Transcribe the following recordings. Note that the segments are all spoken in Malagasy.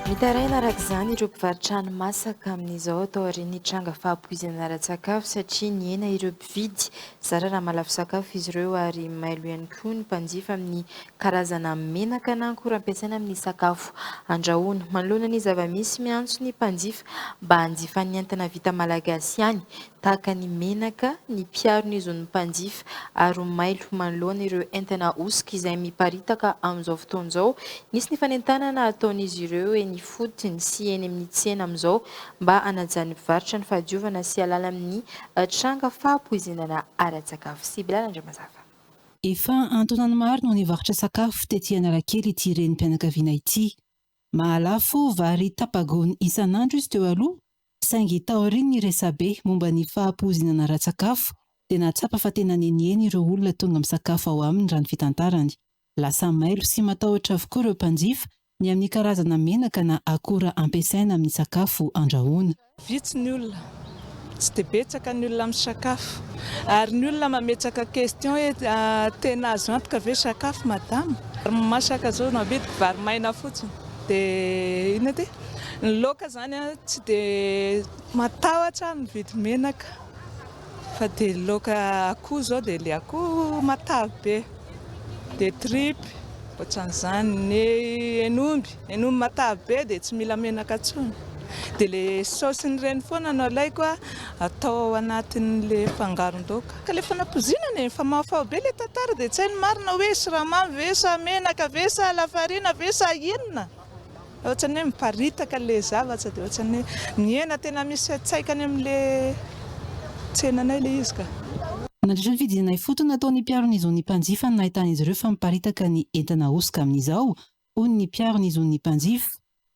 Mitaraina araka izany ireo mpivarotra hani-masaka amin'izao atao aorian'ny tranga fahapoizana ara-tsakafo satria nihena ireo mpividy. Zara raha mahalafo sakafo izy ireo ary mailo ihany koa ny mpanjifa amin'ny karazana menaka na akora ampiasaina amin'ny sakafo andrahoina. Manoloana ny zava-misy miantso ny mpanjifa mba hanjifa ny entana vita malagasy ihany tahaka ny menaka, ny mpiaro ny zon'ny mpanjifa ary ho mailo manoloana ireo entana ahosoka izay miparitaka amin'izao fotoana izao. Nisy ny fanentanana ataon'izy ireo eny ifotony sy eny amin'ny tsena amin'izao mba hanajan'ny mpivarotra ny fahadiovana sy halala amin'ny tranga fahapoizinana ara-tsakafo. Sibylana Andriamazava. Efa an-taonany maro no nivarotra sakafo tety Analakely ity renim-pianakaviana ity. Mahalafo vary tapa-gony isan'andro izy teo aloha, saingy taorian'ny resabe momba ny fahapoizinana ara-tsakafo, dia nahatsapa fa tena nenieny ireo olona tonga misakafo ao aminy, raha ny fitantarany. Lasa mailo sy matahotra avokoa ireo mpanjifa ny amin'ny karazana menaka na akora ampiasaina amin'ny sakafo andrahoina. Vitsy ny olona, tsy dia betsaka ny olona misakafo. Ary ny olona mametsaka question hoe tena azo antoka ve sakafo madama? Vary masaka zao no amidiko, vary maina fotsiny. Dia inona ty? Ny laoka zany an, tsy dia matahotra aho mividy menaka. Fa dia ny laoka akoho izao dia ilay akoho matavy be, dia tripy, ohatran'izany. Ny hen'omby, hen'omby matavy be dia tsy mila menaka intsony. Dia ilay saosin'ireny foana no alaiko atao ao anatin'ilay fangaron-daoka. Ka rehefa nampoizinana e! Fa mahafaho be ilay tantara dia tsy hay ny marina hoe siramamy ve sa menaka ve sa lafarina ve sa inona? Ohatrany hoe miparitaka ilay zavatra dia ohatrany hoe mihena tena misy fiantsaika any amin'ilay tsenanay ilay izy ka. Nandritra ny fidinana ifotony nataon'ny mpiaro ny zon'ny mpanjifa no nahitan'izy ireo fa miparitaka ny entana hosoka amin'izao, hoy ny mpiaro ny zon'ny mpanjifa.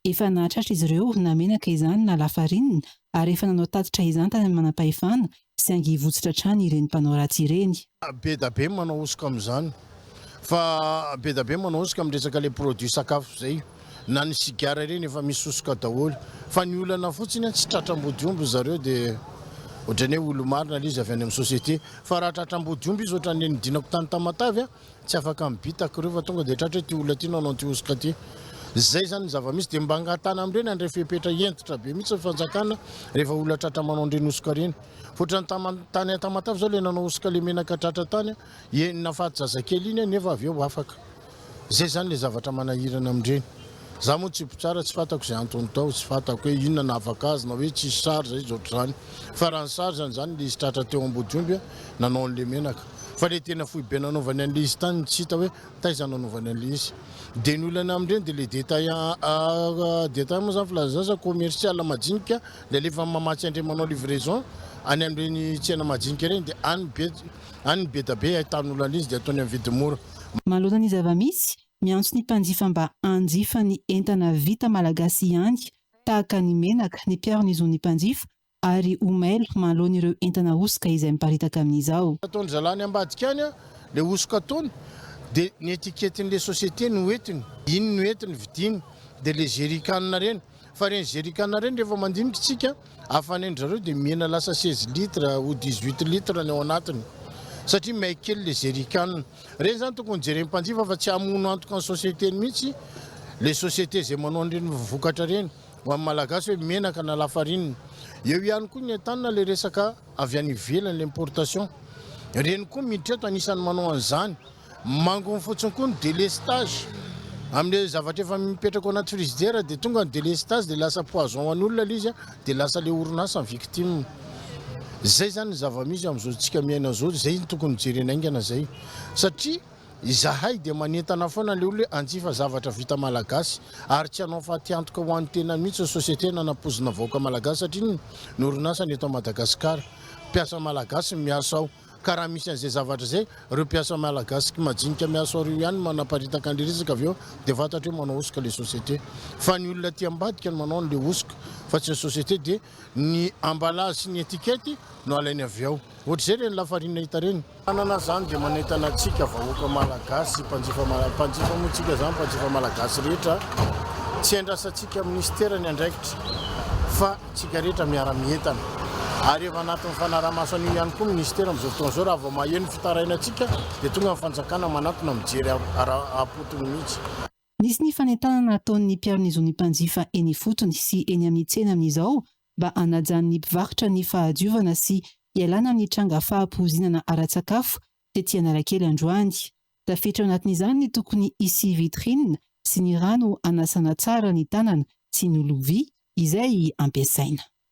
Efa nahatratra izy ireo na menaka izany na lafarinina ary efa nanao tatitra izany tany amin'ny manampahefana saingy hivotsitra hatrany ireny mpanao ratsy ireny. Be da be manao hosoka amin'izany fa be da be manao hosoka amin'ny resaka ilay produit sakafo izay. Na ny sigara ireny efa misy hosoka daholo. Fa ny olana fotsiny tsy tratra ambodiomby ry zareo dia ohatran'ny hoe olo-marina ilay izy avy any amin'ny société. Fa raha tratra ambodiomby izy ohatran'ny nidinako tany Tamatave. Tsy afaka mibitaka reo fa tonga dia tratra hoe ty olona ty nanao an'ity hosoka ty. Zay zany ny zava-misy dia mba angatahana amin'ireny andray fepetra hentitra be mihitsy ny fanjakana rehefa olona tratra manao an'ireny hosoka ireny. Ohatrany tam tany an Tamatave zao ilay nanao hosoka ilay menaka tratra tany an, enina faty zazakely iny an nefa avy eo afaka. Zay zany ilay zavatra manahirana amin'ireny. Za moa tsy mpitsara tsy fantako izay antony tao, tsy fantako hoe inona nahavaka azy na hoe tsisy charge izy ohatr'izany. Fa raha ny charge-ny zany ilay izy tratra teo Ambodiomby an nanao an'ilay menaka. Fa ilay tena foibe nanaovany an'ilay izy tany no tsy hita hoe taiza no anaovany an'ilay izy. Dia ny olana amin'ireny dia ilay détail détail moa izany filazana izany sa commercial majinika dia alefa any mamatsy an'ireny manao livraison any amin'ireny tsena majinika ireny dia any be any ny bedabe ahitan'olana izy dia ataony amin'ny vidiny mora. Manoloana ny zava-misy, miantso ny mpanjifa mba hanjifa ny entana vita malagasy ihany tahaka ny menaka ny mpiaro ny zon'ny mpanjifa ary ho mailo mahaloany ireo entana hosoka izay miparitaka amin'izao. Ataon'ny zalany ambadika any ilay hosoka ataony dia ny etiketin'ilay société no hoentiny, iny no entiny vidiany dia ilay jerrycan ireny fa ireny jerrycan ireny rehefa mandinika isika hafanendry zareo dia mihena lasa seize litres ou dix huit litres ny ao anatiny satria may kely ilay jerrycan ireny izany tokony jeren'ny mpanjifa fa tsy hamono antoka ny société-ny mihitsy ilay société izay manao an'ireny vokatra ireny. Ho an'ny Malagasy hoe menaka na lafarinina. Eo ihany koa ny entanina ilay resaka avy any ivelany, ilay importation. Ireny koa miditra eto, anisan'ny manao an'izany. Mangony fotsiny koa ny délestage. Amin'ilay zavatra efa mipetraka ao anaty frigidaire dia tonga ny délestage dia lasa poison ho an'olona ilay izy dia lasa ilay orinasa ny victime. Izay izany ny zava-misy amin'izao antsika miaina izao, izay no tokony ho jerena haingana izay satria. Izahay dia manentana foana ilay olona hoe hanjifa zavatra vita malagasy ary tsy hanao fatiantoka ho an'ny tena mihitsy ny société nanapoizina vahoaka malagasy satria ny ny orinasa ny eto Madagascar mpiasa malagasy ny miasa ao ka raha misy an'izay zavatra izay ireo mpiasa malagasy majinika miasa ao ireo ihany no manaparitaka an'ilay resaka avy eo dia fantatra hoe manao hosoka ilay société fa ny olona aty ambadika no manao an'ilay hosoka fa tsy ny société dia Ny emballage sy ny etikety no alainy avy ao. Ohatr'izay ireny lafarine hita ireny. Anana zany dia manentana antsika vahoaka malagasy mpanjifa mpanjifa moa tsika zany mpanjifa malagasy rehetra tsy andrasantsika minisitera ny andraikitra fa tsika rehetra miara mientana ary efa anatin'ny fanaramaso an'io ihany koa minisitera amin'izao fotoana izao raha vao maheno fitarainantsika dia tonga ny fanjakana manatona mijery ara-potony mihitsy Nisy ny fanentanana ataon'ny mpiaro ny zon'ny mpanjifa eny ifotony sy eny amin'ny tsena amin'izao mba hanajan'ny mpivarotra ny fahadiovana sy hialana amin'ny tranga fahapoizinana ara-tsakafo tety Analakely androany. Tafiditra ao anatin'izany ny tokony hisy vitrine sy ny rano hanasana tsara ny tanana sy ny lovia izay hampiasaina.